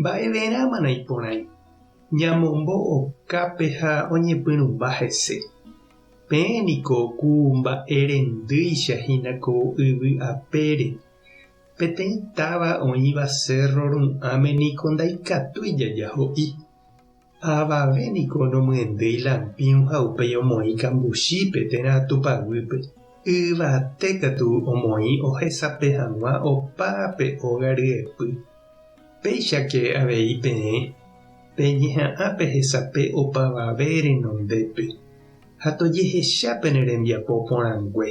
Mba'everãmana iporãi ñamombo'okápe ha oñepyrũmba hese? Peẽ niko ku mba'erendýicha hína ko yvy apére. Peteĩ táva oĩva cérro ru'ãme niko ndaikatúi jaja ho'i. Avave niko nomyendéi lampĩu ha upéi omoĩ kambuchípe térã Tupã guýpe. Yvate katu omoĩ ohesape hag̃ua opa pe óga ryepy. Péichake avei peẽ peñeha'ã pehesape opavave renondépe ha tojehecha pene rembiapo porãngue.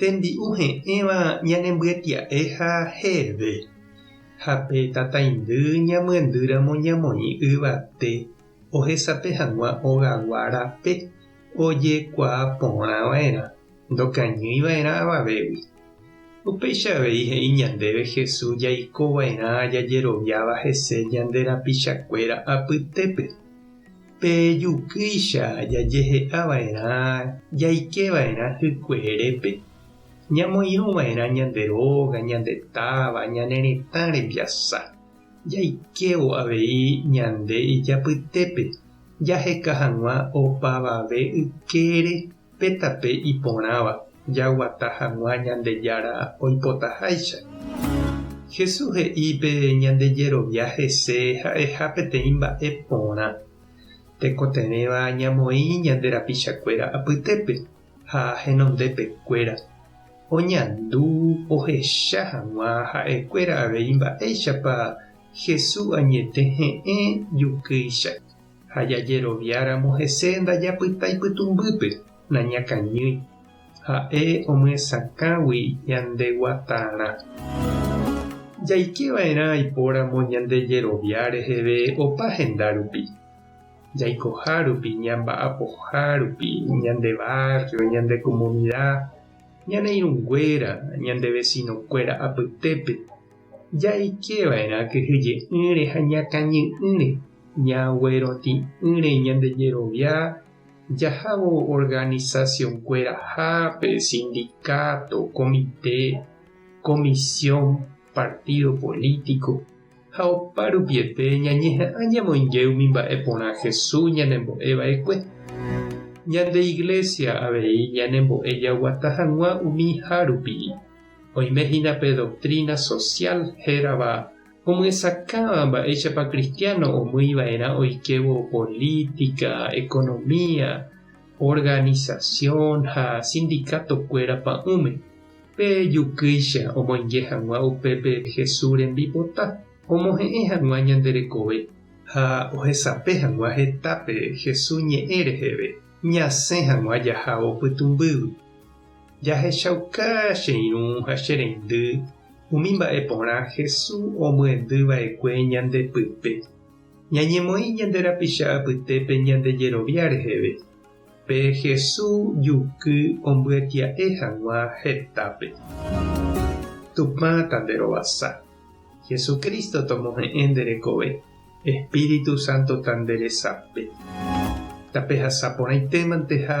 Tembi'u he'ẽva ñanembyetya'e ha heve, ha pe tataindy ñamyendýramo ñamoĩ yvate ohesape hag̃ua ogagua rape ojekuaa porã va'erã, ndokañýi va'erã avavégui. Upéicha avei he'i ñandéve Jesús jaiko va'erã jajeroviáva hese ñande rapichakuéra apytépe. Pe jukýicha jajehe'a va'erã jaike va'erã hykueerépe, ñamoirũ va'erã ñande róga, ñande táva, ñane retã rembiasa. Jaikévo avei ñande ijapytépe jaheka hag̃ua opavave ykére Pe tape iporãva jaguata hag̃ua Ñandejára oipotaháicha. Jesús he'i pe ñande jerovia hese ha'eha peteĩ mba'e porã. Tekotevẽva ñamoĩ ñande rapichakuéra apytépe ha henondepekuéra, oñandu ohecha hag̃ua ha'ekuéra avei mba'éichapa Jesús añete he'ẽ jukýicha. ha jajeroviáramo hese ndajapyta ipytũmbýpe, nañakañýi. Ha'e omyesakãgui ñande guatarã. Jaike va'erã aipóramo ñande jerovia reheve opa henda rupi. Jaikoha rupi, ñamba'apoha rupi, ñande barrio, ñande comunidad, ñane irũnguéra, ñande vecino-kuéra apytépe. Jaike va'erã kyhyje'ỹre ha ñakãñy'ỹre, ñagueroti'ỹre ñande jerovia jahávo organizacionkuerahápe, sindicato, komite, comisión, partido político, ha oparupiete ñañeha'ã ñamoinge umi mba'e porã Jesús ñanembo'e va'ekue. Ñande Iglesia avei ñanembo'e jaguata hag̃ua umi hárupi. Oime hína pe doktrína sosiál hérava omyesakãva mba'éichapa kristiáno omýi va'erã oikévo polítika, ekonomia, organisasión ha sindikatokuéra pa'ũme. Pe jukýicha omoinge hag̃ua upépe Jesús rembipota omohe'ẽ hag̃ua ñande rekove. Ha ohesape hag̃ua hetápe Jesús ñe'ẽ reheve, ñasẽ hag̃ua jahávo pytũmbýgui. Jahechauka che irũ ha che reindy umi mba'e porã Hesu omyendy vaekue ñande pype. Ñañemoĩ ñande rapicha apytépe ñande jerovia reheve, pe Hesu juky ombyatia'e hag̃ua hetápe. Tupã tanderovasa. Hesu Cristo tomohe'ẽ nde rekove, Espíritu Santo tanderesape. Tapehasa porãitémante ha